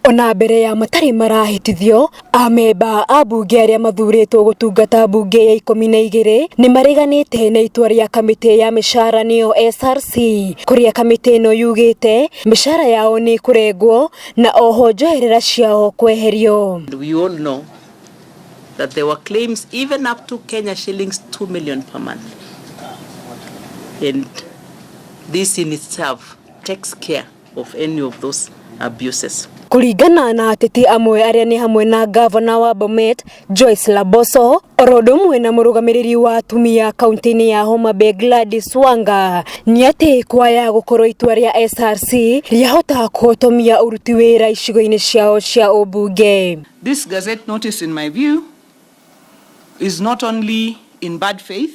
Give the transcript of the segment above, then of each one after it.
Ona mbere ya matarĩ marahĩtithio, amemba a mbunge arĩa mathurĩtwo gũtungata mbunge ya ikũmi na igĩrĩ nĩ mareganĩte na itua rĩa kamĩtĩ ya mĩcara nĩyo SRC, kũrĩa kamĩtĩ ĩno yugĩte mĩcara yao nĩ ĩkũrengwo na oho njoherera ciao kweherio. And we all know that there were claims even up to Kenya shillings 2 million per month. And this in itself takes care of any of those abuses. Kũringana na ateti amwe arĩa nĩ hamwe na ngavana wa Bomet Joyce Laboso oro ũndũ ũmwe na mũrũgamĩrĩri wa atumia kaunti-inĩ ya Homa Bay Gladys Wanga nĩ atĩ kwaya gũkorwo itua rĩa SRC rĩahota kũhotomia ũruti wĩra icigo-inĩ ciao cia ũmbunge. This gazette notice, in my view, is not only in bad faith,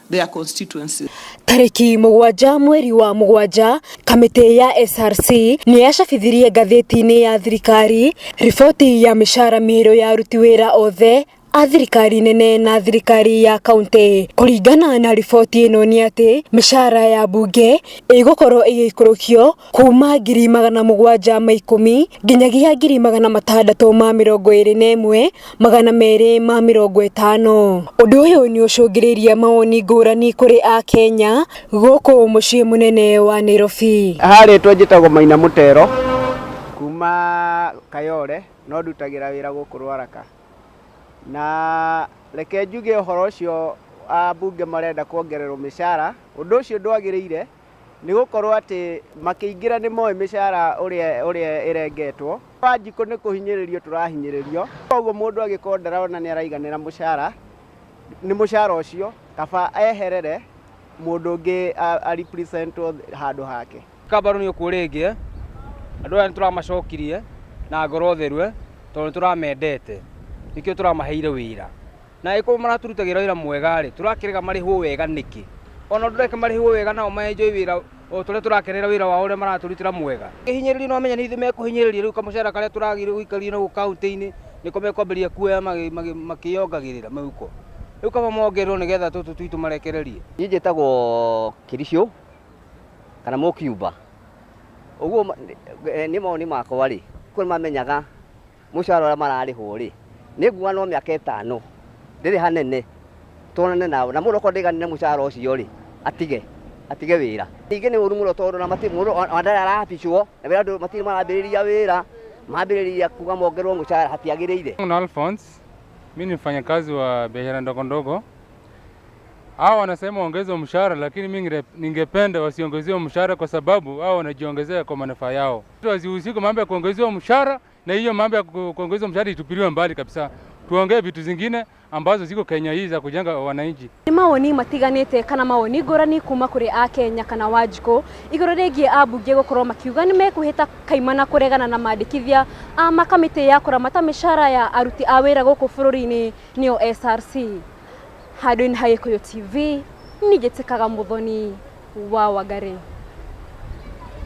their constituencies. Tarĩki mũgwanja mweri wa mũgwanja, kamĩtĩ ya SRC nĩ yacabithirie ngathĩti-inĩ ya thirikari riboti ya mĩcara mĩerũ ya aruti wĩra othe a thirikari nene na thirikari ya kaunti. Kũringana na riboti ĩno nĩ atĩ mĩcara ya mbunge ĩgũkorwo ĩgĩikũrũkio Kuuma ngiri magana mũgwanja ma ikũmi nginyagia ngiri magana matandatũ ma mĩrongo ĩrĩ na ĩmwe magana merĩ ma mĩrongo ĩtano. Ũndũ ũyũ nĩ ũcũngĩrĩirie mawoni ngũrani kũrĩ Akenya gũkũ mũciĩ mũnene wa Nairobi. Haha rĩtwa njĩtagwo Maina Mũtero, kuuma Kayole, no ndutagĩra wĩra gũkũ Rwaraka. Na reke njuge ũhoro ũcio abunge marenda kuongererwo mĩcara, ũndũ ũcio ndwagĩrĩire. Nĩ gũkorwo atĩ makĩingĩra nĩ moĩ mĩcara ũrĩa ũrĩa ĩrengetwo. Wanjikũ nĩ kũhinyĩrĩrio tũrahinyĩrĩrio. Kwoguo mũndũ angĩkorwo ndarona nĩ araiganĩra mũcara nĩ mũcara ũcio kaba eherere mũndũ ũngĩ a represent wo handũ hake. Kabaru nĩ ũkuo rĩngĩ eh. Andũ aya nĩ tũramacokirie na ngoro theru eh tondũ nĩ tũramendete nĩkĩo tũramaheire wĩra. Na angĩkorwo maratũrutagĩra wĩra mwega-rĩ, tũrakĩrega marĩhwo wega nĩkĩ? O nao ndũreke marĩhwo wega nao ma enjoy wĩra o ta ũrĩa tũrakenera wĩra wao ũrĩa maratũrutĩra mwega. Ũngĩhinyĩrĩrio nĩ wamenya nĩ ithuĩ mekũhinyĩrĩria, rĩu kamũcara karĩa tũragĩrĩirwo gũikarithia naguo kauntĩ-inĩ nĩko mekwambĩrĩria kuoya makĩyongagĩrĩra mĩhuko. Rĩu kaba mongererwo nĩ getha tũtũ twitũ marekererie. Niĩ njĩtagwo Kĩricũ kana Mũkiumba. Ũguo niĩ mawoni makwa-rĩ, kwĩ mamenyaga Mũcara ũrĩa mararĩhwo-rĩ, nĩnguga no mĩaka ĩtano, ndĩrĩ hanene, tuonane nao. Na mũndũ okorwo ndaiganĩire mũcara ũcio-rĩ, atige, atige wĩra. Ningĩ nĩ ũru mũno tondũ ona matirĩ, mũndũ ona ndarĩ arabicwo, na wĩra ndũ, matirĩ marambĩrĩria wĩra, mambĩrĩria kuga mongererwo mũcara hatiagĩrĩire. Muna Alphonse, mi ni mfanyakazi wa biashara ndogo ndogo. Hao wanasema waongezwe mshahara, lakini mi ngire- ningependa wasiongezewe mshahara kwa sababu hao wanajiongezea kwa manufaa yao. Wasihusike mambo ya kuongezewa mshahara, na hiyo mambo ya ku- kuongeza mshahara itupiliwe mbali kabisa, tuongee vitu zingine ambazo ziko Kenya hii za kujenga wananchi. Nĩ mawoni matiganĩte kana mawoni ngũrani kuma kũrĩ a Kenya kana Wanjikũ igũrũ rĩgiĩ ambunge gũkorwo makiuga nĩ mekũhĩta kaimana kũregana na mandĩkithia a makamĩtĩ ya kũramata mĩcara ya aruti a wĩra gũkũ bũrũri-inĩ nĩyo SRC. Handũ-inĩ ha Gĩkũyũ TV, ningĩ tĩkaga mũthoni wa Wangari.